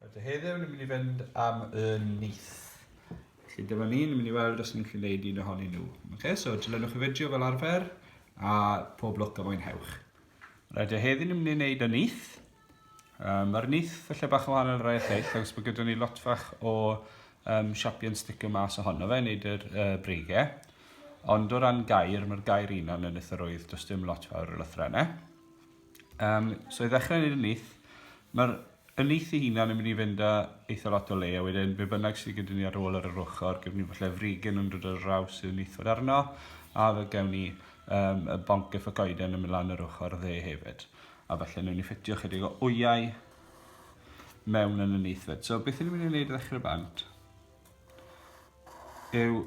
Rydw heddiw yn mynd i fynd am y nyth. Felly dyma ni'n mynd i weld os ni'n gallu gwneud un ohonyn nhw. Okay, so dilynwch y fideo fel arfer a pob lwc a mwynhewch. Rydw heddiw yn mynd i wneud y nyth. Um, Mae'r nyth felly bach yn wahanol rai lleill, agos bod gyda ni lot fach o um, siapion sticio mas ohono fe, wneud yr uh, breigau. Ond o ran gair, mae'r gair un o'n yn y thyrwydd, does dim lot fawr o lythrennau. Um, so i ddechrau wneud y nith, mae'r y nith i hunan yn mynd i fynd â eitha lot o le, a wedyn be bynnag sydd gyda ni ar ôl ar yr ochr, gyda ni falle frigyn yn dod ar raws sydd yn eithaf arno, a fe gawn ni um, y bonc efo goeden yn mynd lan yr ochr dde hefyd. A falle newn ni ffitio chydig o wyau mewn yn y nith fyd. So beth ni'n mynd i wneud i ddechrau bant yw,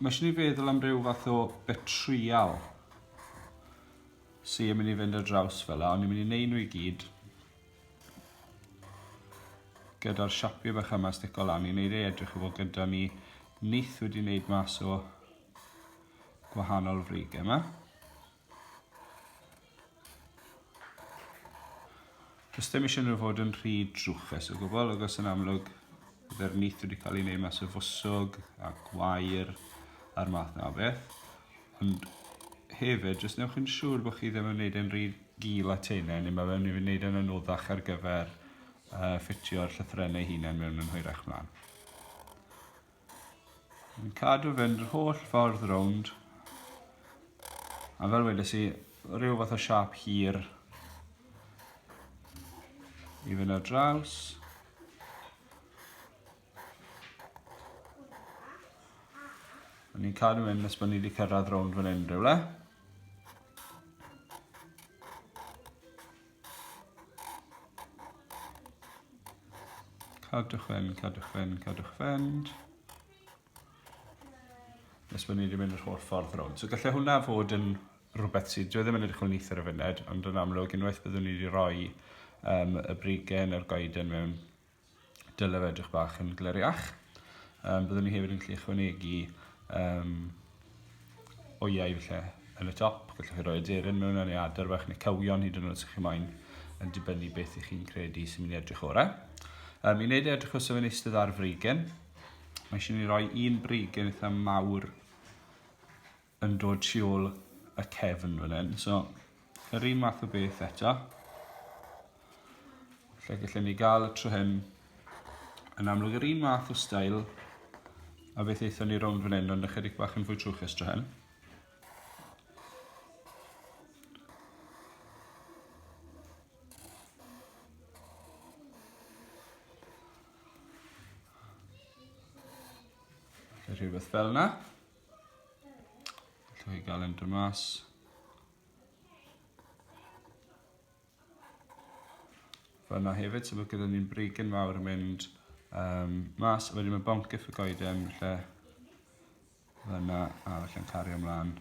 mae eisiau ni feddwl am ryw fath o betrial sy yn mynd i fynd ar draws fel la, ond ni'n mynd i neud nhw i gyd gyda'r siapiau bach yma stico lan, ni'n neud ei edrych i fod gyda ni nith wedi neud mas o gwahanol frigau yma. Does dim eisiau nhw fod yn rhy drwchus o gwbl, agos yn amlwg byddai'r nith wedi cael ei wneud mas o fwswg a gwair a'r math na o beth. Ond hefyd, jyst newch yn siŵr bod chi ddim yn wneud e'n rhy gul a teine, neu mae fe'n mynd i wneud e'n anoddach ar gyfer uh, ffitio'r llythrennau hunain mewn yn hwyrach mlaen. Yn cadw fynd yr holl ffordd rownd. A fel wedes i, rhyw fath o siap hir i fynd ar draws. O'n i'n cadw mynd nes bod ni wedi cyrraedd rownd fan hyn rhywle. Cadwch fynd, cadwch fynd, cadwch fynd. Nes bod ni wedi mynd yr holl ffordd rownd. So gallai hwnna fod yn rhywbeth sydd, dwi e ddim yn edrych o'n eithr o funud, ond yn amlwg unwaith byddwn ni wedi rhoi um, y brigen a'r goeden mewn dylef edrych bach yn gleriach. Um, byddwn ni hefyd yn gallu ychwanegu um, oiau felly yn y top. Gallwch chi roi aderyn mewn yn ei adar fach neu cywion hyd yn oed sy'ch chi moyn yn dibynnu beth i chi'n credu sy'n mynd i edrych orau. Um, I wneud edrych o sef yn eistedd ar freigen, mae eisiau ni roi un breigen eitha mawr yn dod tu ôl y cefn fan hyn. So, yr un math o beth eto. Lle gallwn ni gael y tro hyn yn amlwg yr un math o stael a beth eithon ni rownd fan hyn, ond ychydig bach yn fwy trwchus tro hyn. rhywbeth fel yna. Allwch chi gael e'n mas. Fyna hefyd, so mae gyda ni'n brigyn mawr yn mynd um, mas, a wedyn mae bont gyff y goeden, lle fyna, a felly'n cario ymlaen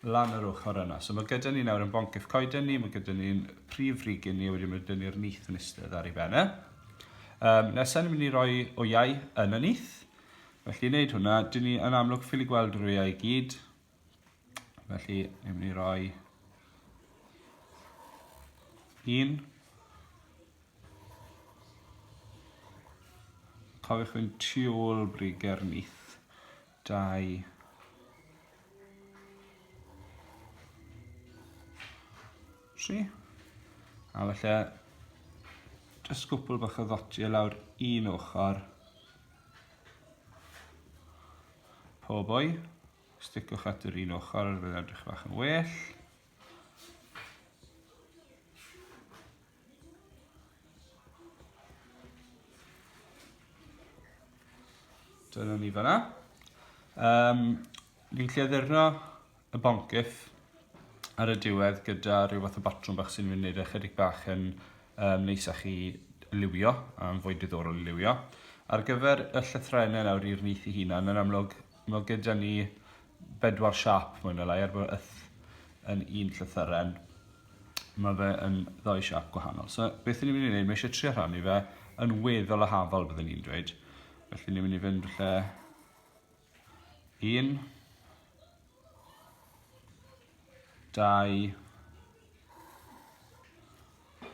lan yr ochr yna. So mae gyda ni nawr yn bont gyff coeden ni, mae gyda ni'n prif frigyn ni, a wedyn mae gyda ni'r nith yn eistedd ar ei ben e. Um, nesaf ni'n mynd i roi o iau yn y nith, Felly i wneud hwnna, dyn ni yn amlwg ffili gweld yr wyau i gyd. Felly, ni'n mynd i roi un. Cofiwch fynd tu ôl briger nith. Dau. Tri. A felly, jyst gwpl bach o ddotiau lawr un ochr. Poor boy. Sticwch at yr un ochr, fe edrych bach yn well. Dyna ni fanna. Um, ni'n lleddurno y boncyff ar y diwedd gyda rhyw fath o batrwm bach sy'n mynd i wneud e chydig bach yn um, neis a chi liwio, a'n fwy diddorol i liwio. Ar gyfer y llythrenau nawr i'r nyth i hunan, yn amlwg, mae gyda ni bedwar siap mwy na lai, er bod yth yn un llythyren, mae fe yn ddoi siap gwahanol. So beth ni'n mynd i wneud, mae eisiau trio rhannu fe yn weddol a hafol byddwn ni'n dweud. Felly ni'n mynd i fynd lle 1 2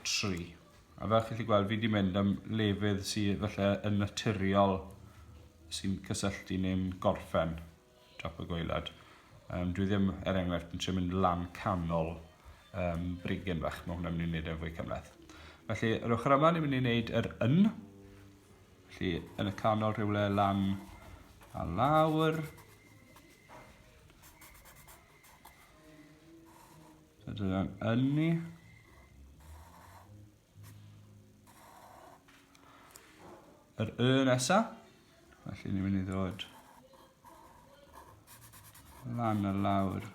3 a fel chi'n gallu gweld fi wedi mynd am lefydd sydd falle yn naturiol sy'n cysylltu neu'n gorffen top y gweilad. Um, dwi ddim, er enghraifft, yn trio mynd lan canol um, brigyn fach, mae hwnna'n mynd i wneud e'n fwy cymleth. Felly, yr ochr yma, ni'n mynd i wneud yr yn, Felly, yn y canol rhywle lan a lawr. So dyna'n ynni. Yr y nesa. Felly ni'n mynd i ddod lan a lawr.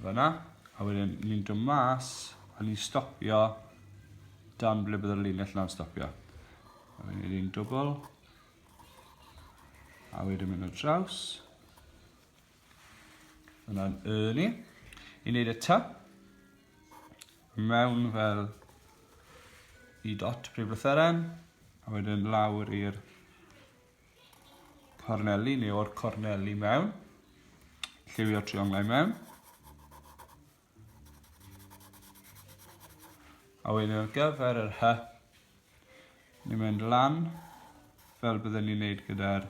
Fyna, a wedyn ni'n dod mas a ni'n stopio dan ble bydd y linell na'n stopio. A wedyn ni'n dwbl, a wedyn mynd o draws. Yna'n y ni. I wneud y ty, mewn fel i dot prif lytheren, a wedyn lawr i'r corneli neu o'r corneli mewn. Lliwio trionglau mewn. A wedyn ar gyfer yr hy, ni'n mynd lan fel byddwn ni'n neud gyda'r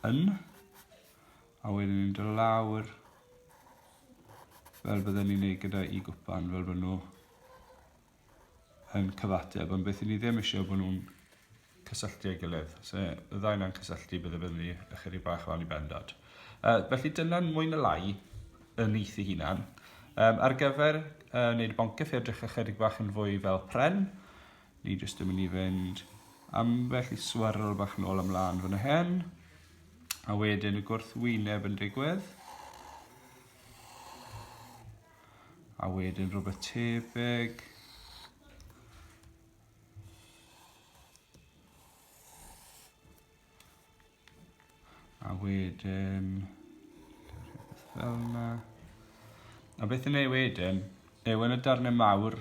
yn, a wedyn ni'n dod lawr fel byddwn ni'n neud gyda i gwpan, fel bod nhw yn cyfateb, ond beth i ni ddim eisiau bod nhw'n cysylltu ei gilydd. So, y ddau yna'n cysylltu, bydde bydd ni ychydig bach o anni bendod. Uh, felly dyna'n mwy na lai y nith i hunan. Um, ar gyfer uh, wneud y boncyff i edrych ychydig bach yn fwy fel pren, ni jyst yn mynd i fynd ambell i swirl bach nôl ymlaen fan hyn, a wedyn y gwrthwyneb yn digwydd. A wedyn rhywbeth tebyg. A wedyn... Rhywbeth fel yna. A beth yn ei wedyn, yw yn y darnau mawr,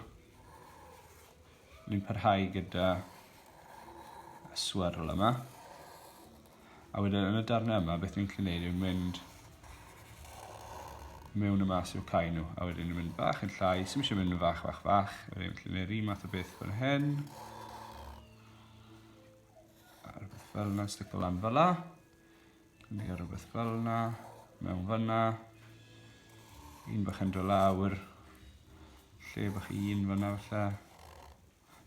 ni'n parhau gyda y swirl yma. A wedyn yn y darnau yma beth dwi'n gallu neud yw mynd mewn y mas i'w cael nhw. A wedyn yn mynd bach yn llai, sy'n eisiau mynd yn fach, fach, fach. A wedyn gallu neud un math o beth fan hyn. A rhywbeth fel yna, stick o lan fel yna. Dwi'n mynd rhywbeth fel yna, mewn fyna. Un bach yn dod lawr. Lle bach un fyna felly.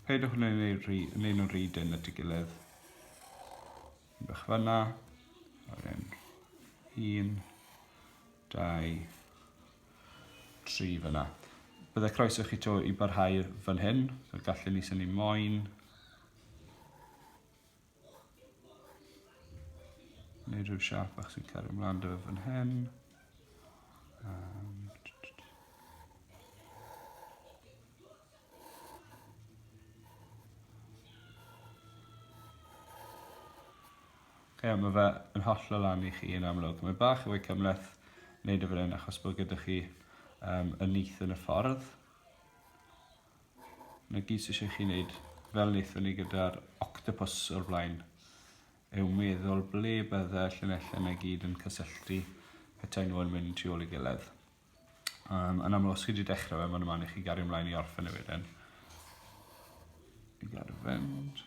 Peidiwch yn ei rhi, yn ei nhw'n rhi dyn at y gilydd. Un bach fanna. Wedyn, un, dau, tri fanna. Byddai croeso chi to i barhau fan hyn, so gallen ni syni moyn. Neu rhyw siap bach sy'n cario ymlaen dy fan hyn. Um, Ie, mae fe yn hollol lan i chi yn amlwg. Mae bach o fwy cymleth wneud y fan hyn achos bod gyda chi um, y nith yn y ffordd. 'na gyd sy eisiau chi wneud, fel wnaethon ni gyda'r octopus o'r blaen, yw meddwl ble bydde llinellau 'na gyd yn cysylltu petai nhw yn mynd tu ôl i gilydd. Um, yn amlwg, os chi wedi dechrau fe, mae'n yma i chi gario ymlaen i orffen y wedyn. I gario fynd.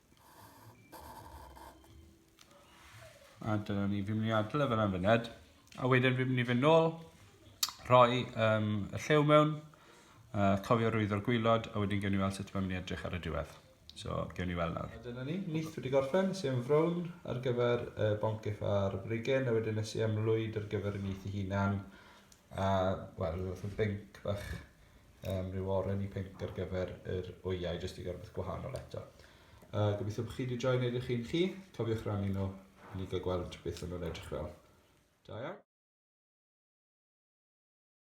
A dyna ni, fi'n mynd i adl e fel am fyned. A wedyn fi'n mynd i fynd nôl, rhoi um, y llew mewn, uh, cofio rwyddo'r gwylod, a wedyn gewn ni weld sut mae'n mynd i edrych ar y diwedd. So, gewn ni weld nawr. A dyna ni, nith wedi gorffen, nes i am frown ar gyfer uh, boncyff a'r brigen, a wedyn nes i am lwyd ar gyfer y nith i hunan. A, wel, rhywbeth o binc bach um, rhyw oren i pink ar gyfer yr wyau, jyst i gael rhywbeth gwahanol eto. Uh, gobeithio bod chi wedi joi'n edrych chi'n chi. Cofiwch rannu nhw i ni gael gweld beth o'n nhw'n edrych fel. Da iawn.